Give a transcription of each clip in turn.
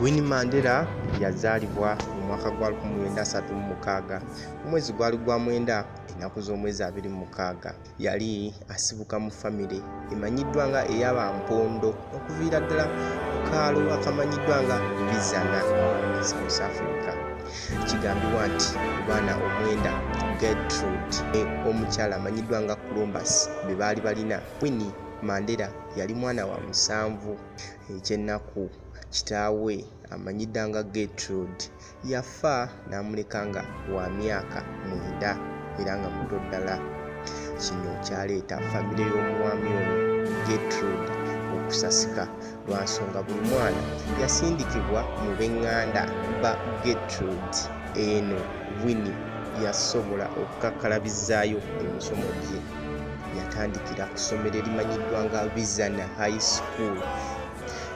Winnie Mandela yazaalibwa mu mwaka gwa 1936 omwezi gwali gwa mwenda ennaku z'omwezi 26 yali asibuka mu famire emanyiddwa nga eyaba mpondo okuviira ddala ku kaalo akamanyiddwa nga bizana south africa kigambibwa nti baana omwenda gertrude e, omukyala amanyiddwa nga columbus be baali balina winnie mandera yali mwana wa musanvu Ekyennaku kitaawe amanyi dda nga Gertrude yafa n'amuleka nga wa myaka mwenda era nga muto ddala. Kino kyaleeta famire y'omwami ono Gertrude okusasika lwa nsonga buli mwana yasindikibwa mu b'eŋŋanda ba Gertrude. Eno Winnie yasobola okukakkalabizaayo emisomo gye. yatandikira ku ssomero erimanyiddwa nga vision high school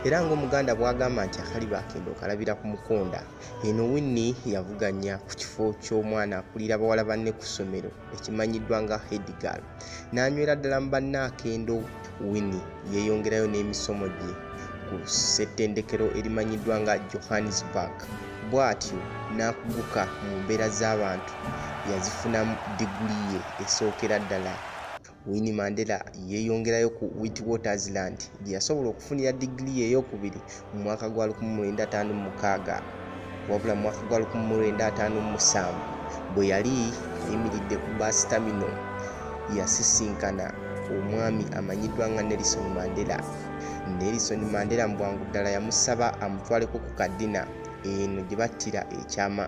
era ngaomuganda bwagamba nti akaliba akenda okalabira ku mukonda eno winni yavuganya ku kifo ky'omwana akulira bawala banne ku ssomero ekimanyiddwa nga hedgal n'anywera ddala mu banne akendo Winnie yeeyongerayo n'emisomo gye ku ssettendekero erimanyiddwa nga Johannesburg bw'atyo n'akuguka mu mbeera z'abantu yazifunamu diguli ye esookera ddala. Winnie Mandela yeeyongerayo ku Witwatersrand gye yasobola okufunira diguli ye ey'okubiri mu mwaka gwa 1956 wabula mu mwaka gwa 1957 bwe yali ayimiridde ku basitamino yasisinkana omwami amanyiddwa nga nelison mandela nelison mandela mu bwangu ddala yamusaba amutwaleko ku kadina eno gye battira ekyama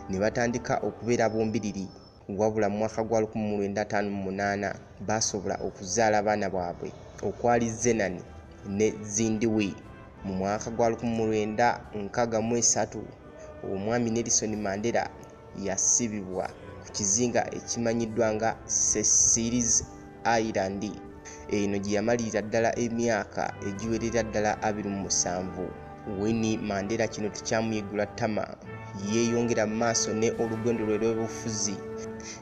ne batandika okubeera bombiriri wabula mu mwaka gwa 1958 baasobola okuzaala abaana bwabwe okwali zenani ne zindiwi mu mwaka gwa 1963 omwami nelison mandela yasibibwa ku kizinga ekimanyiddwa nga cecilis Ireland eno gye yamalirira ddala emyaka egiwerera ddala 27. Winnie Mandela kino tekyamuyiggula ttama, yeeyongera mu maaso ne olugendo lwe lw'obufuzi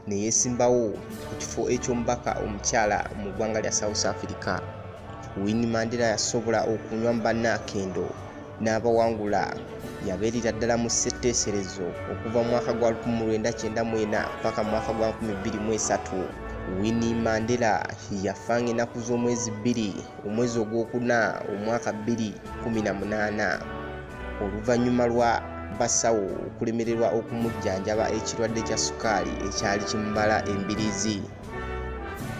ne yeesimbawo ku kifo eky'omubaka omukyala mu ggwanga lya South Africa. Winnie Mandela yasobola okunywa mu bannaakendo. n'abawangula yabeerera ddala mu ssetteeserezo okuva mu mwaka gwa 1994 mpaka mu mwaka gwa 2023 Winnie Mandela yafa ng'ennaku z'omwezi bbiri omwezi ogwokuna omwaka 2018 oluvannyuma lwa basawo okulemererwa okumujjanjaba ekirwadde kya sukaali ekyali kimubala embirizi